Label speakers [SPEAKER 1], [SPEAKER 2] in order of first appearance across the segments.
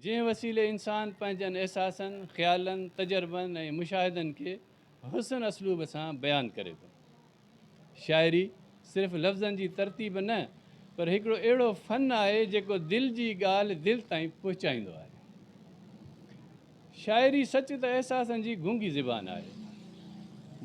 [SPEAKER 1] جنهن وسيلي انسان پنهنجن احساسن، خيالن، تجربن ۽ مشاهدن کي حسن اسلوب سان بيان ڪري ٿو. شاعري صرف لفظن جي ترتيب نه پر هڪڙو اهڙو فن آهي جيڪو دل جي ڳالهه دل تائين پهچائيندو آهي. شاعري سچ ته احساسن جي گونگي زبان آهي.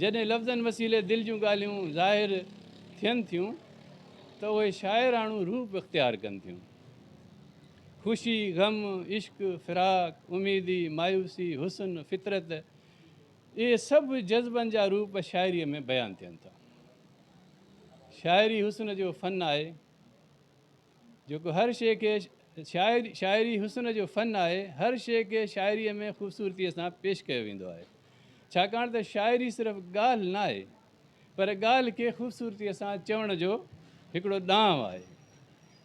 [SPEAKER 1] جڏهن لفظن وسيلي دل جون ڳالهيون ظاهر ٿين ٿيون ته اهي شاعراڻو روپ اختيار ڪن ٿيون. خوشي، غم، عشق، فراق، اميدي، مايوسي، حسن، فطرت، اهي سڀ جذبن جا روپ شاعريء ۾ بيان ٿين ٿا. شاعري حسن جو فن آهي، جيڪو هر شيء کي شاعري شاعري حسن جو فن آهي، هر شيء کي شاعريء ۾ خوبصورتيء سان پيش ڪيو ويندو آهي، ڇاڪاڻ ته شاعري صرف ڳالهه ناهي، پر ڳالهه کي خوبصورتيء سان چوڻ جو هڪڙو ڏانء آهي.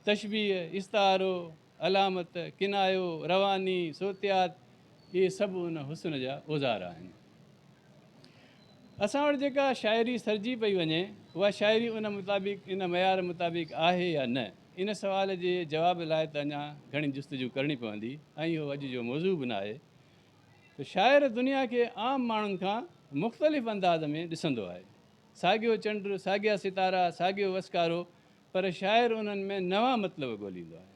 [SPEAKER 1] تشبيهه، استعارو، علامت، ڪنايو، رواني، صوتيات، اهي سڀ ان حسن جا اوزار آهن. اسان وٽ جيڪا شاعري سرجي پئي وڃي، اها شاعري ان مطابق، ان معيار مطابق آهي يا نه؟ ان سوال جي جواب لاء ته اڃا گهڻي جستجو ڪرڻي پوندي ۽ اهو اڄ جو موضوع به ناهي. ته شاعر دنيا کي عام ماڻهن کان مختلف انداز ۾ ڏسندو آهي. ساڳيو چنڊ، ساڳيا ستارا، ساڳيو وسڪارو پر شاعر انهن ۾ نوان مطلب ڳوليندو آهي.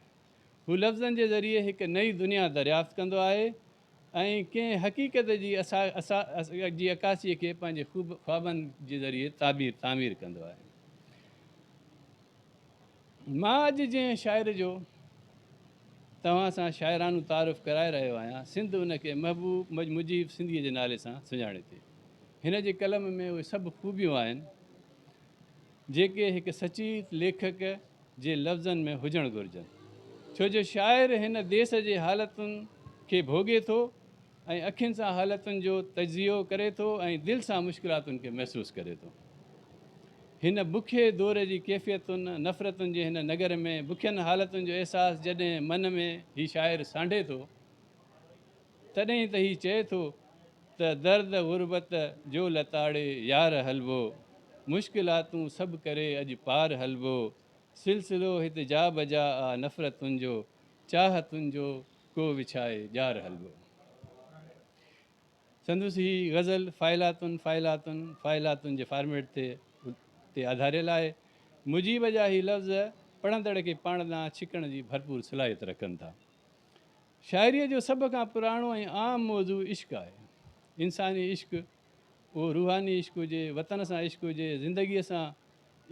[SPEAKER 1] هو لفظن جي ذريعي هڪ نئين دنيا دريافت ڪندو آهي ۽ ڪنهن حقيقت جي جي عڪاسيء کي پنهنجي خوبن خوابن جي ذريعي تعبير تعمير ڪندو آهي. مان اڄ جنهن شاعر جو توهان سان شاعرانو تعارف ڪرائي رهيو آهيان، سنڌ ان کي محبوب مجيب سنڌيء جي نالي سان سڃاڻي ٿي. هن جي قلم ۾ اهي سڀ خوبيون آهن، جيڪي هڪ سچيت ليکڪ جي لفظن ۾ هجڻ گهرجن. ڇو جو شاعر هن ديس جي حالتن کي ڀوڳي ٿو ۽ اکين سان حالتن جو تجزيو ڪري ٿو ۽ دل سان مشڪلاتن کي محسوس ڪري ٿو. هن بکئي دور جي ڪيفيتن، نفرتن جي هن نگر ۾ بکين حالتن جو احساس جڏهن من ۾ هي شاعر سانڍي ٿو تڏهن ئي ته هي چئي ٿو ته درد غربت جو لتاڙي يار هلبو مشڪلاتون سڀ ڪري اڄ پار هلبو سلسلو هت جا بجا آ نفرتن جو چاهتن جو ڪو وڇائي ڄار حلوو. سندس هي غزل فائلاتن فائلاتن فائلاتن جي فارميٽ تي تي آڌاريل آهي. مجيب جا هي لفظ پڙهندڙ کي پاڻ ڏانهن ڇڪڻ جي ڀرپور صلاحيت رکن ٿا. شاعريء جو سڀ کان پراڻو ۽ عام موضوع عشق آهي. انساني عشق، اهو روحاني عشق هجي، وطن سان عشق هجي، زندگيء سان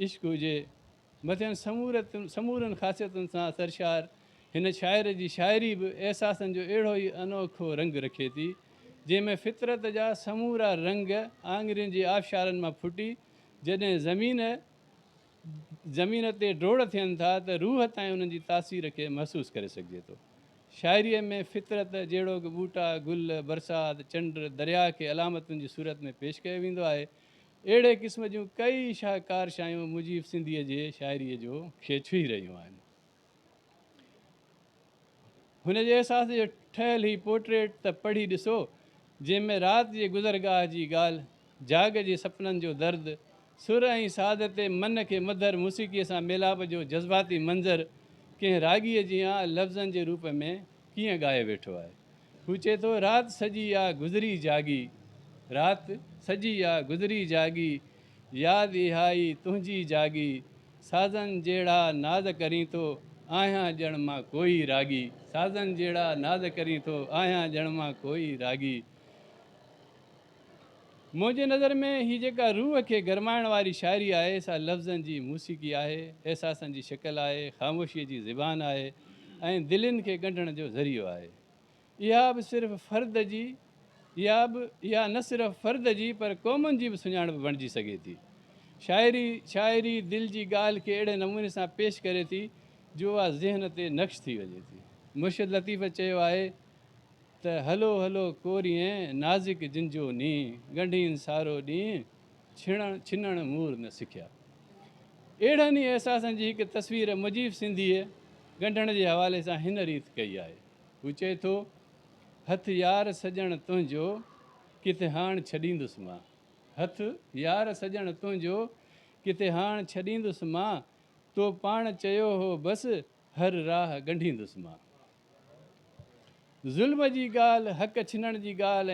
[SPEAKER 1] عشق هجي، مٿين سمورن خاصيتن سان سرشار هن شاعر جي شاعري به احساسن جو اهڙو ئي انوکو رنگ رکي ٿي، جنهن ۾ فطرت جا سمورا رنگ آڱرين جي آبشارن مان ڦٽي جڏهن زمين زمين تي ڊوڙ ٿين ٿا ته روح تائين انهن جي تاثير کي محسوس ڪري سگهجي ٿو. شاعريء ۾ فطرت جهڙوڪ ٻوٽا، گل، برسات، چنڊ، درياء کي علامتن جي صورت ۾ پيش ڪيو ويندو آهي، اهڙي قسم جون ڪئي شاهڪار شايون مجيب سنڌيء جي شاعريء جو کي ڇهي رهيون آهن. هن جي احساس جو ٺهيل هي پورٽريٽ ته پڙهي ڏسو، جنهن ۾ رات جي گذرگاهه جي ڳالهه، جاڳ جي سپنن جو درد، سر ۽ ساز تي من کي مڌر موسيقيء سان ميلاپ جو جذباتي منظر ڪنهن راڳيء جيان لفظن جي روپ ۾ ڪيئن ڳائي ويٺو آهي. هو چئي ٿو، رات سڄي آ گذري جاڳي، رات سڄي آ گذري جاڳي، ياد اها ئي تنهنجي جاڳي، سازن جهڙا ناز ڪرين ٿو، آهيان ڄڻ مان ڪوئي راڳي، سازن جهڙا ناز ڪرين ٿو، آهيان ڄڻ مان ڪوئي راڳي. منهنجي نظر ۾ هي جيڪا روح کي گرمائڻ واري شاعري آهي سا لفظن جي موسيقي آهي، احساسن جي شڪل آهي، خاموشيء جي زبان آهي ۽ دلين کي ڳنڍڻ جو ذريعو آهي. اها به صرف فرد جي يا به يا نه صرف فرد جي پر قومن جي به سڃاڻپ بڻجي سگهي ٿي. شاعري شاعري دل جي ڳالهه کي اهڙي نموني سان پيش ڪري ٿي جو اها ذهن تي نقش ٿي وڃي ٿي. مرشد لطيف چيو آهي. ته هلو هلو ڪوريئين نازڪ جن جو نينهن ڳنڍين سارو ڏينهن ڇڻڻ ڇنڻ مور نه سکيا. اهڙن ئي احساسن جي هڪ تصوير مجيب سنڌيء ڳنڍڻ جي حوالي سان هن ريت ڪئي آهي. هو چئي ٿو، هٿ يار سڄڻ تنهنجو ڪٿي هاڻ ڇڏيندس مان. هٿ يار سڄڻ تنهنجو ڪٿي هاڻ ڇڏيندس مان. تو پاڻ چيو هو بس هر راهه ڳنڍيندس مان. ظلم جي ڳالهه، حق ڇنڻ جي ڳالهه